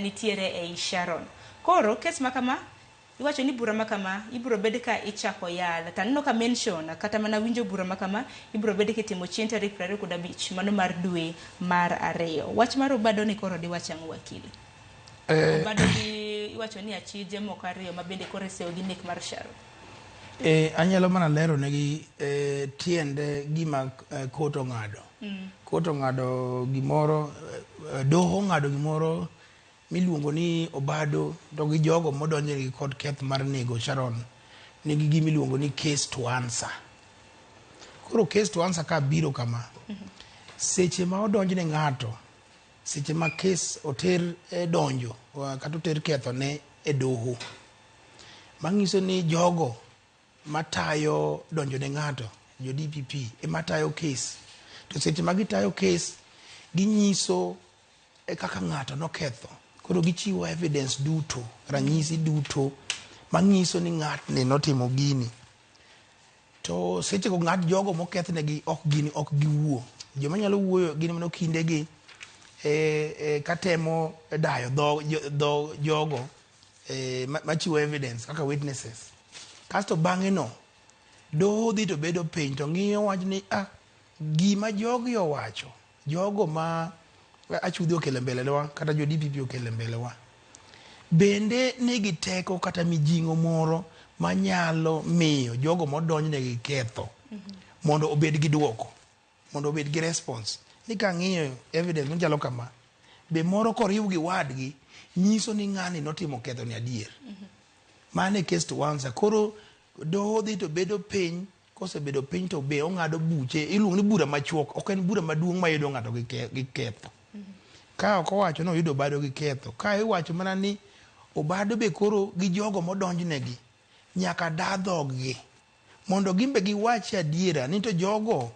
nitiere ei Sharon. Koro kes ma kama iwacho ni bura ma kama ibiro bed ka ichako yal to aneno ka mention kata mana winjo bura ma kama ibiro bed kitimo chieng' tarik piero ariyo kod abich mano mar dwe mar ariyo. Wach mar obado ni koro diwach ang'o wakili? Eh, Obado ni iwacho ni achije moko ariyo ma bende koro iseyo gi nek mar Sharon. eh, anyalo mana lero negi eh, tiende gima eh, kot ong'ado mm. koto ong'ado gimoro eh, doho ong'ado gimoro miluongo ni obado to gi jogo modonjnegi kod keth mar nego sharon nigi gima iluongo ni case to answer koro case to answer ka biro kama mm-hmm. seche ma odonjne ng'ato seche ma kes oter e donjo kata oter kethone e doho manyiso ni jogo matayo donjo ne ng'ato jo DPP ema tayo kes to seche ma gitayo kes ginyiso e kaka ng'ato noketho koro gichiwo evidence duto ranyisi duto manyiso ni ng'atni notimo gini to seche go ng'at jogo mokethnegi ok gini ok giwuo joma nyalo wuoyo gin mano kindegi e, e, katemo dayo dho, dho jogo eh, machiwo evidence kaka witnesses kasto bang'e no doho dhi to bedo piny to ng'iyo wach ni ah, gima jogi owacho jogo ma achudhi okele mbelewa kata jo dpp okele mbelewa bende nigi teko kata mijing'o moro manyalo miyo jogo modonjne gi ketho mondo obed gi duoko mondo obed gi response ni ka ng'iyo evidence machalo kama be moro koriw gi wadgi nyiso ni ng'ani notimo ketho ni adier mm -hmm. mano e case to answer koro doho dhi to bedo piny kosebedo piny to be ong'ado buche iluongo ni bura machuok ok en bura maduong' mayudo ng'ato gi ketho mm -hmm. ka ok owacho ni oyudo obado gi ketho ka iwacho mana ni obado be koro gi jogo modonjnegi Nyaka da dhoggi mondo gin be giwachi adiera ni to jogo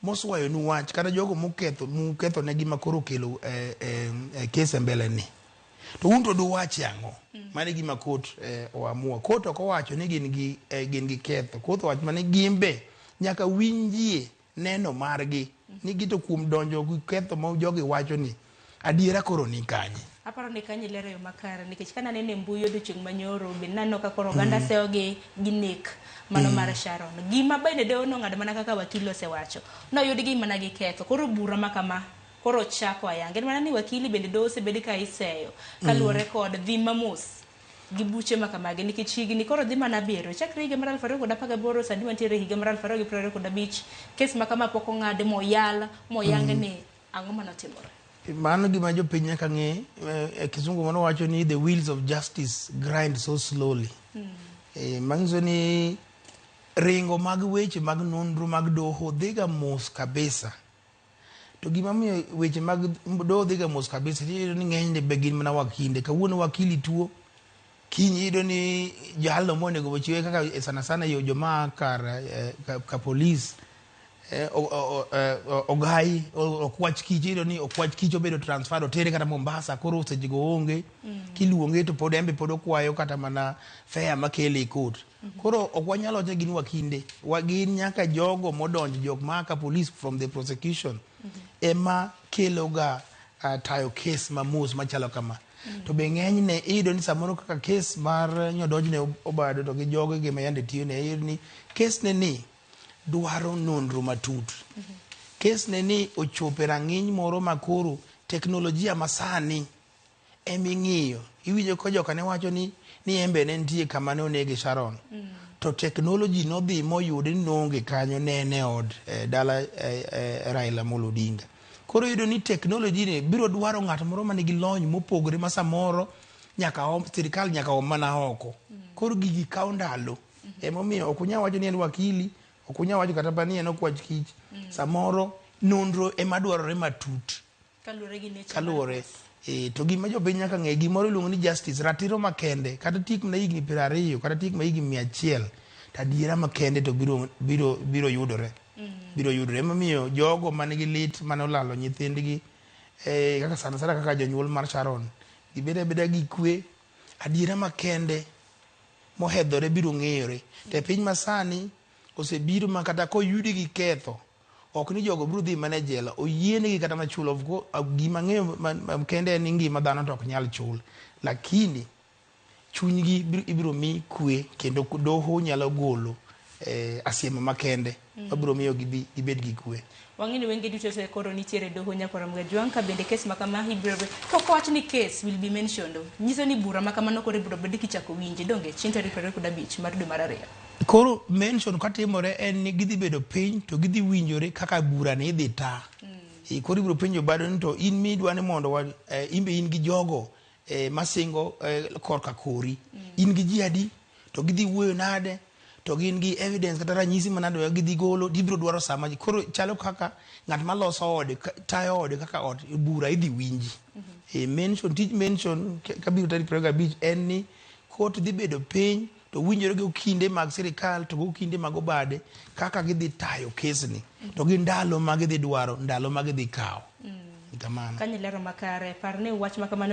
moswayonu wach kata jogo moketho muketho ne gima koro okelo e, e, e kes e mbele ni to un to duwachi ang'o mm. mane gima kot e, oamua kot ok owacho ni gin gi e, gin gi ketho kot owacho mane gin be nyaka winjie Neno margi ni gito kuom donjo gi ketho ma jogi wacho ni adiera koro ni kanye. Aparo ni kanyo ilero yo makare nikech ka naneno e mbui odiochieng' manyoro be naneno ka koro oganda mm. seyo gi gi nek mano mm. mar Sharon. Gima bende doho nong'ado mana kaka wakili osewacho. Noyud gi mana gi ketho. Koro bura ma kama koro chako ayanga. En mana ni wakili bende doho osebed ka iseyo kaluwore mm. kod dhi mamos gi buche ma kamagi nikech higni koro dhi mana abiriyo chakre higa mar 2018 sani wantiere e higa mar 2025 kes ma kama pok ong'ad moyal moyang ni ang'o mane otimore mano gima jopiny nyaka ng'e eh, e kisungu mano wacho ni the wheels of justice grind so slowly Eh, manyiso ni ringo mag weche mag nonro mag doho dhiga mos kabisa To gima miyo weche mag doho dhiga mos kabisa, iyudo ni ng'enyne be gin mana wakinde. Kawuono wakili tuo, kiny iyudo ni jalno monego ochiwe kaka e sana sana yo joma kar eh, ka, ka polis eh, o- o- o- eh, o- ogai o- okwach kich iyudo ni okwach kich obedo transfer otere kata mombasa koro sechego onge kiluonge to pod embe pod okwayo kata mana fea makele e kot Koro ok wanyal wacho gin wakinde, wagin nyaka jogo modonjo jok ma ka police from the prosecution mm -hmm. ema keloga uh, tayo kes mamos machalo kama mm -hmm. to be ng'enyne iyudo ni samoro kaka kes mar nyodonjne obado to gi jogo gima yande tiyone iyudo ni kesne ni dwaro nonro matut mm -hmm. kesne ni ochopo e rang'iny moro makoro teknolojia masani ema ing'iyo. Iwinjo ka joka ne wacho ni ni embe ne nitie kama ne onege Sharon. Mm. To technology nodhi moyude ni noonge kanyo ne en e od eh, dala eh, eh, Raila Amolo Odinga. Koro yudo ni technology ni biro dwaro ng'at moro ma nigi lony mopogore ma samoro nyaka om, sirikal nyaka om mana oko. Mm. Koro gigi kawo ndalo. Mm -hmm. Emomiyo ok unyal wacho ni en wakili, ok unyal wacho kata ni en okwach kich. Mm. Samoro nonro ema dwarore matut. Kaluwore gi nature kaluwore mar pesa. eh, to gima jopiny nyaka ng'e gimoro iluongo ni justice ratiro makende kata tik mana higni piero ariyo kata tik ma higni mia achiel to adiera makende to biro, biro, biro yudore biro yudore emomiyo jogo man gi lit mane olalo nyithindgi eh, kaka sana sana kaka jonyuol mar sharon gibed abeda gi kwe adiera makende mohedhore biro ng'eyore to e piny masani osebiro ma kata koyudi gi ketho Ok ni jogo biro dhi mana e jela, oyienegi kata mana chulo. Gima ang'eyo kende en ni ngima dhano to ok nyal chul. Lakini chunygi ibiro mi kwe kendo doho nyalo golo eh, asiema makende mm. mabiro miyo gibi, gibed gi kwe wang'eni wenge duto e koro nitiere doho nyakoram gajwang' ka bende kes makama ibiro pok wach ni kes will be mentioned nyiso ni bura makama koro ibiro bed kichako winje donge chieng' tarik 25 mar dwe mar ariyo Koro mention katimore en ni gidhi bedo piny to gidhi winjore kaka bura ni idhi ta. Mm. Koro ibiro penjo bado ni to in midwa ni mondo wa, eh, in be in gi jogo eh, masingo eh, korka kori. Mm. In gi ji adi to gidhi wuoyo nade to gin gi evidence kata ranyisi manade ma gidhi golo gibiro dwaro sama ji koro chalo kaka ng'at ma loso ode tayo ode kaka ot bura idhi winji mm -hmm. e mention tij mention kabiro tarik 25 en ni kot dhi bedo piny to winjore gi kinde mag sirikal to gi kinde mag obade kaka gidhi tayo kesni to gi ndalo ma gidhi dwaro ndalo ma gidhi kawo kamano Kanye lero makare, par ni wach ma kamano